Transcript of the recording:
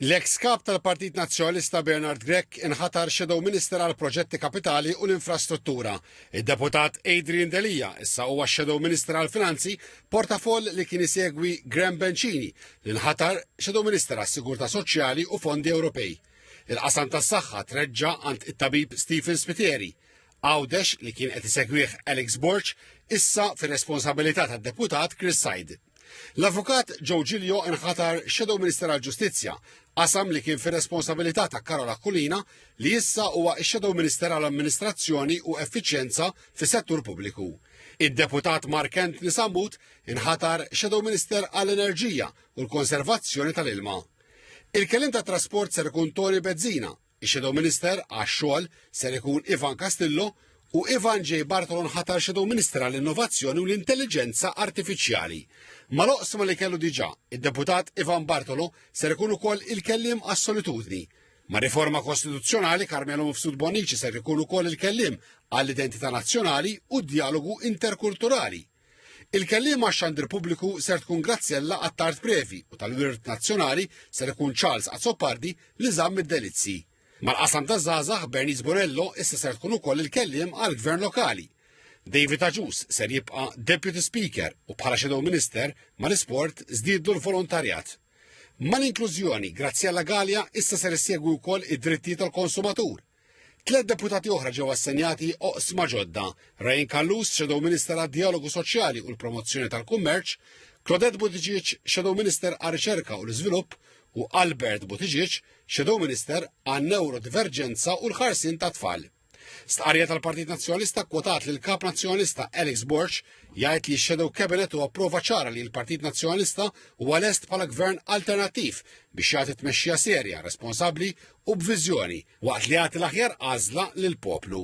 L-eks Kap tal-Partit Nazzjonalista Bernard Grech inħatar Shadow Minister għal Proġetti Kapitali u l-Infrastruttura. Id-Deputat Adrian Delia issa huwa Shadow Minister għal Finanzi, portafoll li kien isegwi Graham Bencini li nħatar Shadow Minister għas Sigurtà Soċjali u Fondi Ewropej. Il-qasam tas-saħħa treġġa' għand it-tabib Stephen Spiteri. Għawdex li kien qed isegwih Alex Borg issa fir-responsabilità tad-Deputat Chris Said. L-Avukat Joe Giglio nħatar Shadow Minister għall-Ġustizzja, qasam li kien fir-responsabilità ta' Karol Aquilina li issa huwa x-Shadow Minister għall-Amministrazzjoni u Effiċjenza fis-Settur Pubbliku. Id-Deputat Mark Anthony Sammut inħatar Shadow Minister għall-Enerġija u l-Konservazzjoni tal-Ilma. Il-kelim ta' trasport ser ikun Tony Bezzina Ix-Shadow Minister għax-Xogħol ser ikun Ivan Castillo u Ivan J. Bartolo nħatar Shadow Minister għall-Innovazzjoni u l-Intelliġenza Artifiċjali. Mal-oqsma li kellu diġà, id-Deputat Ivan Bartolo ser ikun ukoll il-kelliem għas-solitudni. Ma' riforma kostituzzjonali Carmelo Mifsud Bonnici ser ikun ukoll il-kelliem għall-identità nazzjonali u d-djalogu interkulturali. Il-kelliem għax-xandir pubbliku ser tkun Graziella Attard Previ u tal-Wirt Nazzjonali ser ikun Charles Azzopardi li żamm id-delizzji. Mal-qasam taż-żgħażagħ Bernice Bonello issa ser tkun ukoll il-kelliem għall-Gvern Lokali. David Agius ser jibqa' Deputy Speaker u bħala Shadow Minister mal-isport żdiedlu l-volontarjat. Mal-inklużjoni Graziella Galea issa ser issegwi wkoll id-drittijiet tal-konsumatur. Tliet deputati oħra ġew assenjati oqsma ġodda, Ryan Callus, Shadow Minister għad-Djalogu Soċjali u l-Promozzjoni tal-Kummerċ, Claudette Buttigieg, Shadow Minister għar-Riċerka u l-Iżvilupp, u Albert Buttigieg, Shadow Minister għan-Neurodiverġenza u l-Ħarsien tat-Tfal. Stqarrija tal-Partit Nazzjonalista kwotat li l-Kap Nazzjonalista Alex Borg jgħid li x-Shadow Cabinet huwa prova ċara li l-Partit Nazzjonalista huwa lest bħala gvern alternattiv biex jagħti tmexxija serja, responsabbli u b'viżjoni waqt li jagħti l-aħjar għażla lill-poplu.